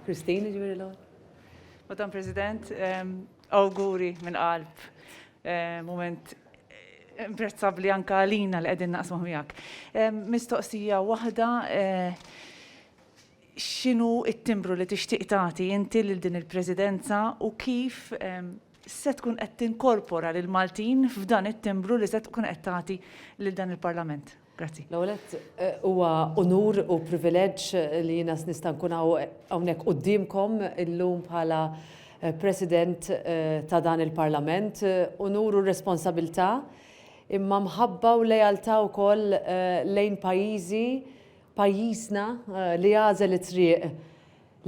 Christine, ġviri l Madam President, awguri minn qalb, moment imprezzabli anka għalina li qegħdin naqsmu miegħek. Mistoqsija waħda X'inhu t-timbru li tixtieq tagħti inti lil din il-Presidenza u kif se tkun qed tinkorpora lill-Maltin f'dan it-timbru li se tkun qed tagħti lil dan il-Parlament? Grazzi. L-ewwel nett, huwa unur u privileġġ li jiena nista' nkun hawnhekk quddiemkom illum bħala President ta' dan il-Parlament. Unur u responsabilità, imma mħabba u lealtà wkoll lejn pajjiżi Pajjiżna, li għażel it-triq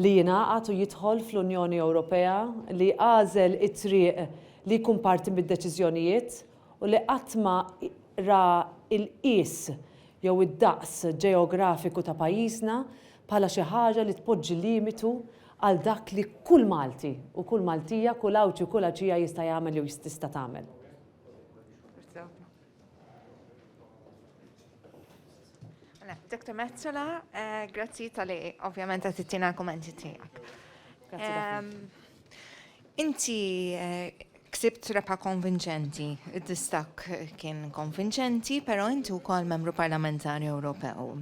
li jingħaqad u jidħol fl-Unjoni Ewropea, li għażel it-triq li jkun parti mid-deċiżjonijiet u li qatt ma ra l-qies jew id-daqs ġeografiku ta' pajjiżna bħala xi ħaġa li tpoġġi limitu għal dak li kull Malti u kull Maltija, kull Għawdxi u kull Għawdxija jista' jagħmel jew tista' tagħmel. Mela, Dr. Metzola, eh, grazzi tal-li ovvjament għat t-tina kommenti tijak. Ehm, inti eh, ksibt repa konvinċenti, id-distak kien konvinċenti, pero inti u kol membru parlamentari Ewropew.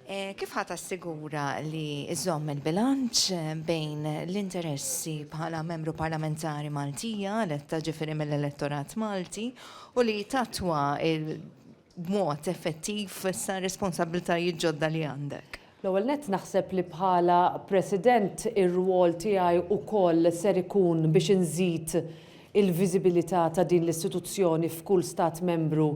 Eh, kif ħata sigura li iżomm il-bilanċ eh, bejn l-interessi bħala membru parlamentari Maltija, letta ġifiri mill-elettorat Malti, u li tatwa b'mod effettiv issa r-responsabbiltajiet ġodda li għandek? L-ewwel nett naħseb li bħala President ir-rwol tiegħi wkoll ser ikun biex inżid il-viżibilità ta' din l-istituzzjoni f'kull Stat Membru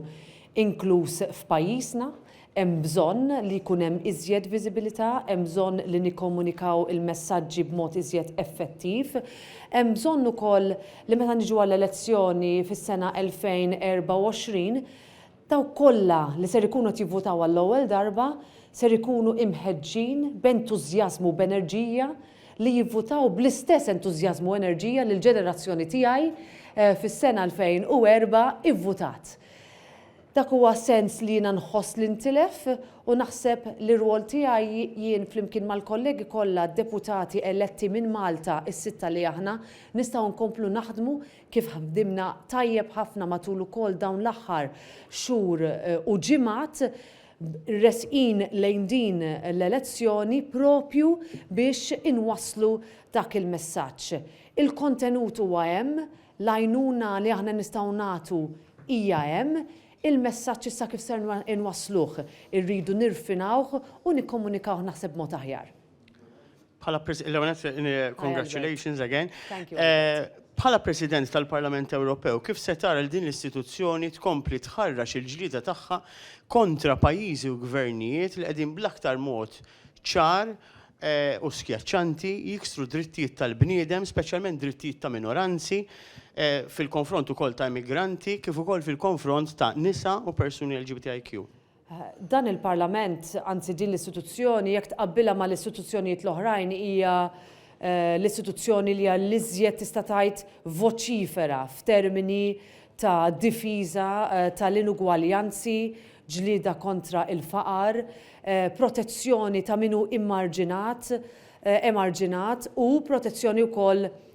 inkluż f'pajjiżna. Hemm bżonn li jkun hemm iżjed viżibilità, hemm bżonn li nikkomunikaw il-messaġġi b'mod iżjed effettiv. Hemm bżonn ukoll li meta niġu għall-elezzjoni fis-sena 2024, Dawk kollha li ser ikunu qed jivvutaw għall-ewwel darba ser ikunu imħeġġin b'entużjażmu u b'enerġija li jivvutaw bl-istess entużjażmu u enerġija li l-ġenerazzjoni tiegħi fis-sena 2004 ivvutat. Dak huwa sens li jiena nħoss li ntilef u naħseb li r-rwol tiegħi jien flimkien mal-kollegi kollha deputati eletti minn Malta s-sitta li aħna nistgħu nkomplu naħdmu kif ħdimna tajjeb ħafna matul ukoll dawn l-aħħar xhur u ġimgħat resqin lejn din l-elezzjoni proprju biex inwasslu dak il-messaġġ. Il-kontenut huwa hemm, l-għajnuna li aħna nistgħu nagħtu hija hemm, il-messaġġ issa kif ser inwassluh, irridu nirfinawh u nikkomunikawh naħseb b'mod aħjar. Bħala President, congratulations again. Eh, bħala President tal-Parlament Ewropew, kif se tara l din l-istituzzjoni tkompli tħarrax il-ġlida tagħha kontra pajjiżi u gvernijiet li qegħdin bl-aktar mod ċar eh, u skjaċċanti jiksru drittijiet tal-bniedem, speċjalment drittijiet ta' minoranzi, eh, fil-konfront ukoll ta' immigranti, kif ukoll fil-konfront ta' nisa u persuni LGBTIQ. Dan il-Parlament, anzi din l-istituzzjoni, jekk tqabbilha mal-istituzzjonijiet l-oħrajn, hija l-istituzzjoni li hija l-iżjed tista' tgħid voċifera f'termini ta' difiża tal-inugwaljanzi, ġlieda kontra l-faqar, protezzjoni ta' min hu immarġinat, emarġinat, u protezzjoni wkoll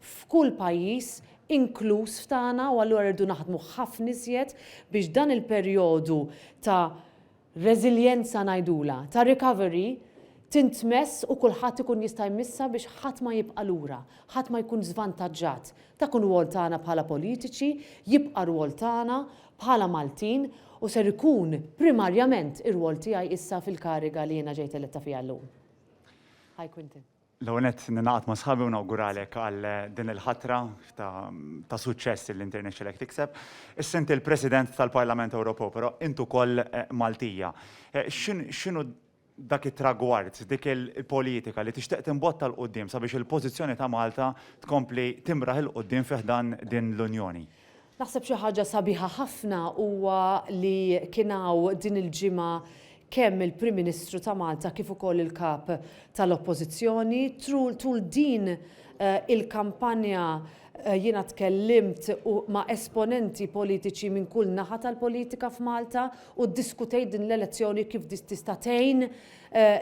f'kull pajjiż, inkluż f'tagħna, u allura rridu naħdmu ħafna iżjed biex dan il-perjodu ta' reżiljenza ngħidulha, ta' recovery, tintmess u kulħadd ikun jista' jmissha biex ħadd ma jibqa' lura, ħadd ma jkun żvantaġġat. Dak hu r-rwol tagħna bħala politiċi, jibqa' r-rwol tagħna bħala Maltin u ser ikun primarjament ir-rwol tiegħi issa fil-kariga li jiena ġejt eletta fiha llum. Hi Quintin. L-ewwel nett ningħaqad ma' sħabi u nawguralek għal din il-ħatra ta' suċċess li inti rnexxilek tikseb. Issa inti l-President tal-Parlament Ewropew, però int ukoll Maltija. X'inhu dak it-tragward, dik il-politika li tixtieq timbotta 'l quddiem sabiex il-pożizzjoni ta' Malta tkompli timraħ 'il quddiem fi ħdan din l-Unjoni? Naħseb xi ħaġa sabiħa ħafna huwa li kien hawn din il-ġimgħa kemm il-Prim Ministru ta' Malta kif ukoll il-Kap tal-Oppożizzjoni. Tul din il-kampanja jiena tkellimt ma' esponenti politiċi minn kull naħa tal-politika f'Malta u ddiskutejt din l-elezzjoni kif tista' tgħin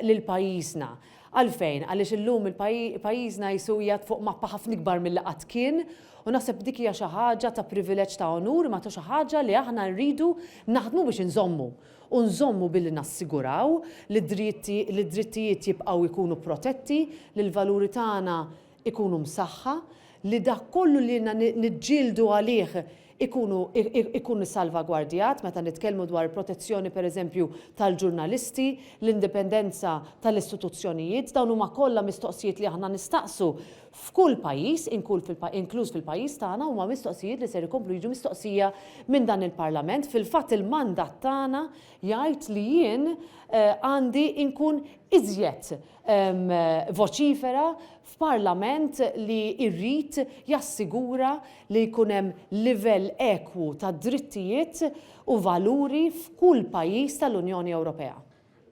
lil pajjiżna. Għalfejn? Għaliex illum pajjiżna qisu qiegħed fuq mappa ħafna ikbar milli qatt kien u naħseb dik hija xi ħaġa ta' privileġġ ta' onur imma ta' xi ħaġa li aħna rridu naħdmu biex inżommu. U nżommu billi nassiguraw li d-drittijiet jibqgħu jkunu protetti, li l-valuri tagħna ikunu msaħħa, li dak kollu li ilna niġġieldu għalih ikunu ikun isalvagwardjat, meta nitkellmu dwar il-protezzjoni pereżempju tal-ġurnalisti, l-indipendenza tal-istituzzjonijiet, dawn huma kollha mistoqsijiet li aħna nistaqsu f'kull pajjiż, inkluż fil-pajjiż tagħna, huma mistoqsijiet li ser ikomplu jiġu mistoqsija minn dan il-Parlament. Fil-fatt il-mandat tagħna jgħid li jien għandi nkun iżjed voċifera f'Parlament li jrid jassigura li jkun hemm livell ekwu ta' drittijiet u valuri f'kull pajjiż tal-Unjoni Ewropea.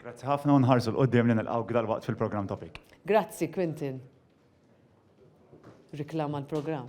Grazzi ħafna u nħarsu 'l quddiem li nilqgħuk dalwaqt fil-programm Topic. Grazzi, Quintin. Riklama l-programm.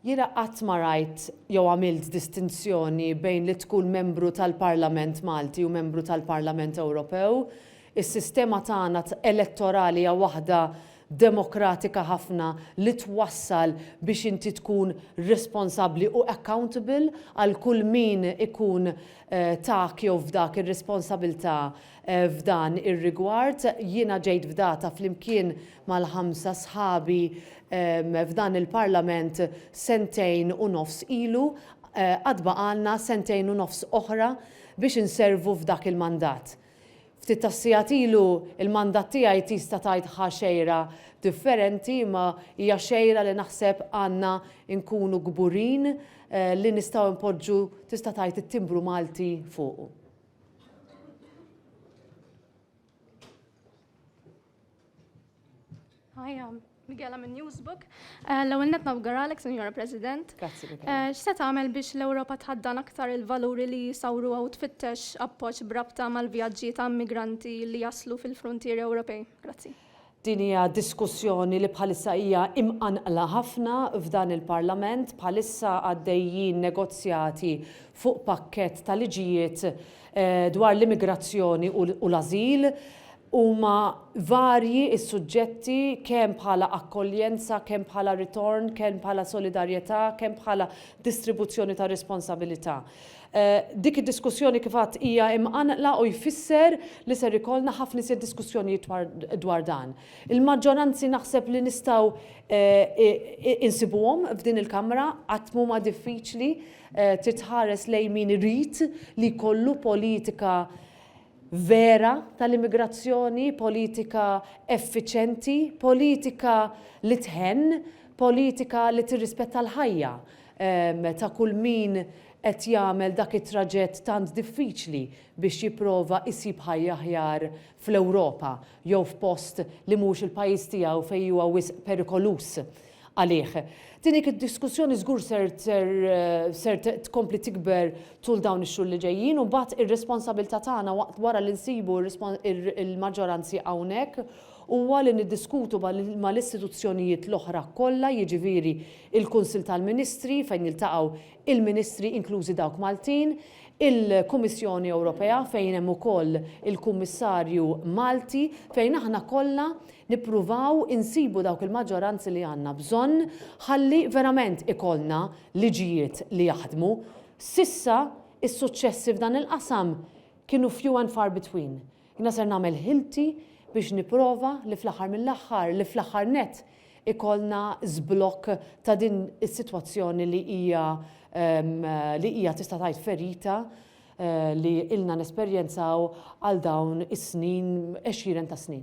Jiena qatt ma rajt jew għamilt distinzjoni bejn li tkun membru tal-Parlament Malti u membru tal-Parlament Ewropew. Is-sistema tagħna elettorali hija waħda demokratika ħafna li twassal biex inti tkun responsabbli u accountable għal kull min ikun tak jew fdak ir-responsabilità f'dan ir-rigward. Jiena ġejt fdata flimkien mal-ħamsa sħabi f'dan il-Parlament sentejn u nofs ilu, għad baqgħalna sentejn u nofs oħra biex inservu f'dak il-mandat. Ftit tas-sigħat ilu l-mandat tiegħi tista' tgħid ħa xejra differenti imma hija xejra li naħseb għandna nkunu kburin li nistgħu npoġġu tista' tgħid it-timbru Malti fuqu. Hi, I'm Miguel, I'm a newsbook. Uh, L-ewwel net nawgaralek, Sinjora President. Grazzi, Miguel. Uh, x'se tagħmel biex l-Ewropa tħaddan aktar il-valuri li jisawru u tfittex appoġġ brabta mal-vjaġġi ta' migranti li jaslu fil-frontieri Ewropej? Grazzi. Din hija diskussjoni li bħalissa hija imqanqla ħafna f'dan il-Parlament. Bħalissa għaddejjin negozjati fuq pakkett ta' liġijiet dwar l-immigrazzjoni u l-ażil. Huma varji s-suġġetti kemm bħala akkoljenza, kemm bħala ritorn, kemm bħala solidarjetà, kemm bħala distribuzzjoni ta' responsabilità. Dik id-diskussjoni kif għadt hija imqanqla u jfisser li ser ikollna ħafna iżjed diskussjonijiet dwar dan. Il-maġġoranzi naħseb li nistgħu insibuhom f'din il-Kamra, qatt m'huma diffiċli, trid tħares lejn min irid li jkollu politika vera tal-immigrazzjoni, politika effiċenti, politika li tħenn, politika li tirrispetta l-ħajja ta' kull min qed jagħmel dak it-traġett tant diffiċli biex jipprova jsib ħajja aħjar fl-Ewropa jew f'post li mhux il-pajjiż tiegħu fejn huwa wisq perikoluż għalih. Din hi diskussjoni żgur ser ser ser tkompli tikber tul dawn ix-xhur li ġejjin u mbagħad ir-responsabilità tagħna waqt wara li nsibu l-maġġoranzi hawnhekk huwa li niddiskutu mal-istituzzjonijiet l-oħra kollha jiġifieri l-Kunsill tal-Ministri fejn jiltaqgħu il-Ministri inklużi dawk Maltin, il-Kummissjoni Ewropea fejn hemm ukoll il-Kummissarju Malti fejn aħna kollha nippruvaw insibu dawk il-maġġoranzi li għandna bżonn ħalli verament ikollna liġijiet li jaħdmu. S'issa s-suċċessi f'dan il-qasam kienu few and far between. Jiena ser nagħmel ħilti biex nipprova li fl-aħħar mill-aħħar, li fl-aħħar nett ikollna żblokk ta' din is-sitwazzjoni li hija li hija tista' tgħid ferita li ilna nesperjenzaw għal dawn is-snin, għexieren ta' snin.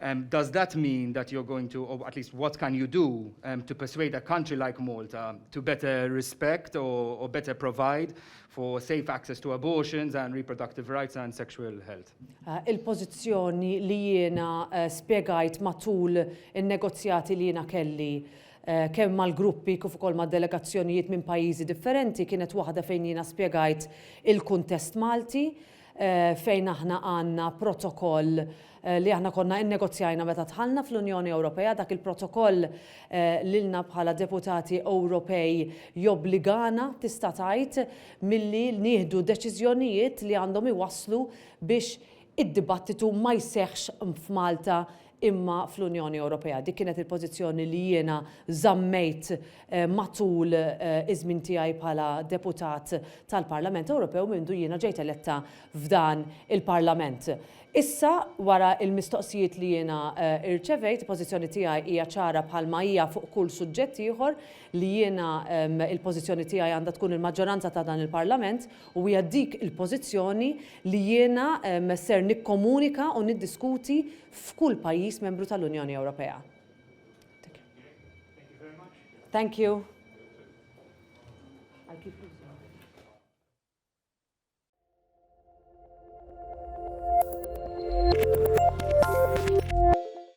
Um, does that mean that you're going to, or at least what can you do um, to persuade a country like Malta to better respect or, or better provide for safe access to abortions and reproductive rights and sexual health. Uh, Il-pozizjoni li jiena uh, spiegajt matul il-negozjati li jiena kelli uh, kemm mal-gruppi kif ukoll ma' delegazzjonijiet minn pajjiżi differenti kienet waħda fejn jiena spiegajt il-kuntest Malti fejn aħna għandna protokoll li aħna konna innegozjajna meta dħalna fl-Unjoni Ewropea, dak il-protokoll lilna bħala deputati Ewropej jobbligana tista' tgħid milli nieħdu deċiżjonijiet li għandhom iwasslu biex id-dibattitu ma jseħħx f'Malta imma fl-Unjoni Ewropea. Dik kienet il-pożizzjoni li jiena żammejt matul iż-żmien tiegħi bħala deputat tal-Parlament Ewropew mindu jiena ġejt eletta f'dan il-Parlament. Issa, wara l-mistoqsijiet li jiena rċevejt, il-pożizzjoni tiegħi hija ċara bħalma hija fuq kull suġġett ieħor li jiena il-pożizzjoni tiegħi għandha tkun il-maġġoranza ta' dan il-Parlament u hija dik il-pożizzjoni li jiena ser nikkomunika u niddiskuti f'kull pajjiż membru tal-Unjoni Ewropea. Thank you.